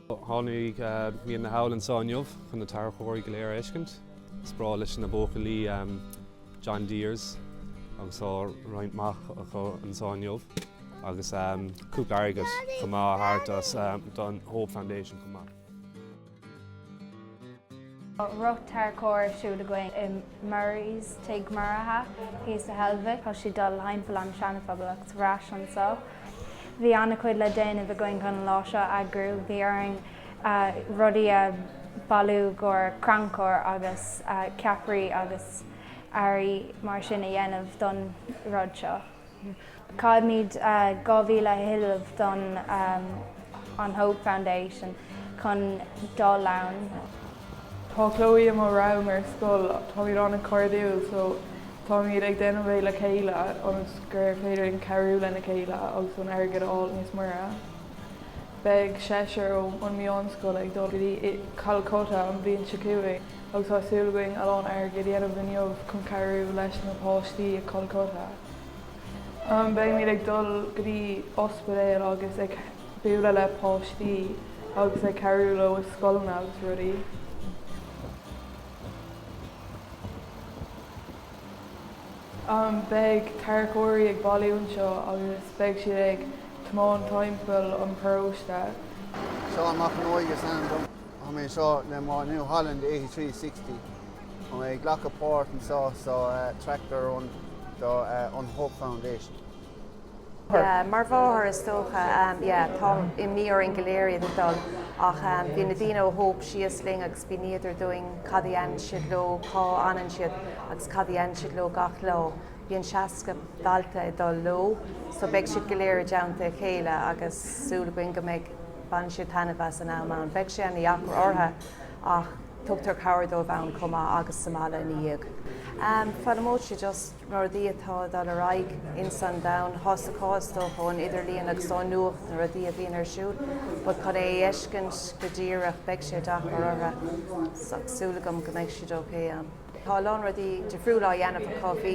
Tháinig mé anall anseo inniu chun na tarracóirí go léir a fheiscint. Is breá leis na buachaillí John Deere's agus tá roinnt maith acu anseo inniu agus cúpla airgead chomh maith a thabhairt suas don Hope Foundation chomh maith. Rith tarracóirí ar siúl againn i Murray's, Tigh Mhuirithe, thíos sa Heilbhic. Tá siad ag dul thimpeall an tSeanaphobail agus ar ais anso. Bhí ana-chuid le déanamh againn chun an lá seo a eagrú. Bhí orainn rudaí a bhailiú i gcomhair crannchur agus ceapairí agus earraí mar sin a dhéanamh don rud seo. Caithfimid 2,000 a thuilleamh don An Hope Foundation chun dul ann. Tá Chloe i mo rang ar scoil. Táimid ana-chairdiúil so táimid ag déanamh é le chéile ionas gur féidir linn cabhrú lena chéile agus an airgead a fháil níos mire. Beidh seisear ó an meánscoil ag dul go dtí Calcutta an bhliain seo chugainn. agus tá súil againn a lán airgid a dhéanamh inniu chun cabhrú leis na páistí i Calcutta. Beimid ag dul go dtí ospidéil agus ag bualadh le páistí agus ag cabhrú leo i scoileanna agus rudaí. Beidh tarracóirí ag bailiú anseo agus beidh siad ag tiomáint timpeall an paróiste. Seán Mac an Óige is ainm dom. Tá mé anseo le mo New Holland 8360. Tá mé ag glacadh páirt anseo sa Tractor Run do an Hope Foundation. Mar mháthair is dócha, yeah, tá imní orainn go léir iad ag dul ach bhí na daoine ó Hope síos linn agus mhíníodar dúinn cad a dhéanann siad leo, cá fhanann siad agus cad a dhéanann siad leo gach lá. Bíonn 60 dalta ag dul leo so beidh siad go léir i dteannta a chéile agus súil againn go mbeidh. Bainfidh siad taitneamh as an am ann. Beidh sé ana-dheacair orthu ach tugtar cabhair dóibh ann chomh maith agus sa mbaile ina dhiaidh. Foghlaimeoidh siad just na rudaí atá ag dul ar aghaidh ins an domhan tá a fhios acu is dócha ón idirlíon agus ón nuacht na rudaí a bhíonn ar siúl but chun é a fheiscint go díreach beidh sé deacair orthu ach súil agam go mbeidh siad ok ann. Tá a lán rudaí difriúla á dhéanamh acu. Bhí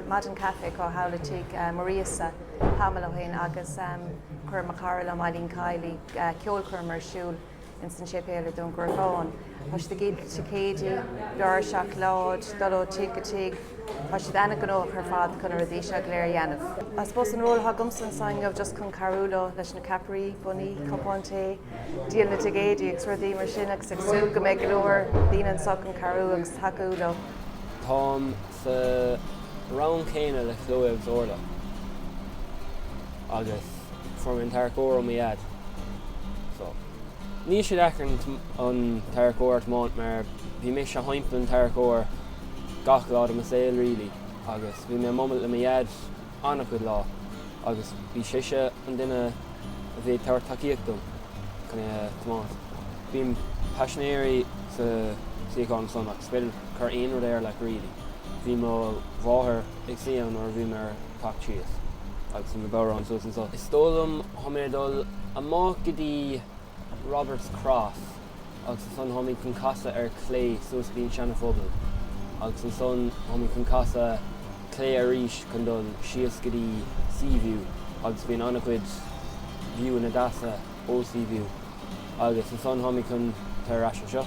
maidin caife acu thall i tigh Mhuiríosa tamall ó shin agus chuir mo chara liom, Eilín Kiley, ceolchoirm ar siúl ins an séipéal i Dún Garbhán. Tá siad ag díol ticéidí, barraí seacláide, dul ó tigh go tigh. Tá siad ana-ghnóthach ar fad chun na rudaí seo go léir a dhéanamh. I suppose an ról atá agamsa anseo inniu just chun cabhrú leo leis na ceapairí, bonnaí, cupáin tae. díol na dticéidí agus rudaí mar sin agus ag súil go mbeidh go leor daoine anseo chun cabhrú agus tacú leo. Táim sa rang céanna le Chloe agus Orla agus fuair mé an tarracóir ó mo dhaid so níl sé deacair an tarracóir a thiomáint mar bhí mise thimpeall an tarracóir gach lá de mo saol really agus bhí mé ag imeacht le mo dhaid an-chuid lá agus bhí seisean an duine a bhí ag tabhairt tacaíocht dom chun é a thiomáint. Bíonn paisinéirí sa suíochán san ach is féidir cur aon rud air leat really. Bhí mo mháthair ag suí ann nuair a bhí mé ag teacht síos agus bhí mo bodhrán suas anso. Is dóigh liom tháimid ag dul amach go dtí Roberts Cross. agus ansan tháimid chun casadh ar chlé suas faoin Seanaphobal agus ansan tháimid chun casadh clé arís chun dul síos go dtí Seaview agus bíonn an-chuid viewanna deasa ó Seaview agus ansan tháimid chun tar ar ais anseo.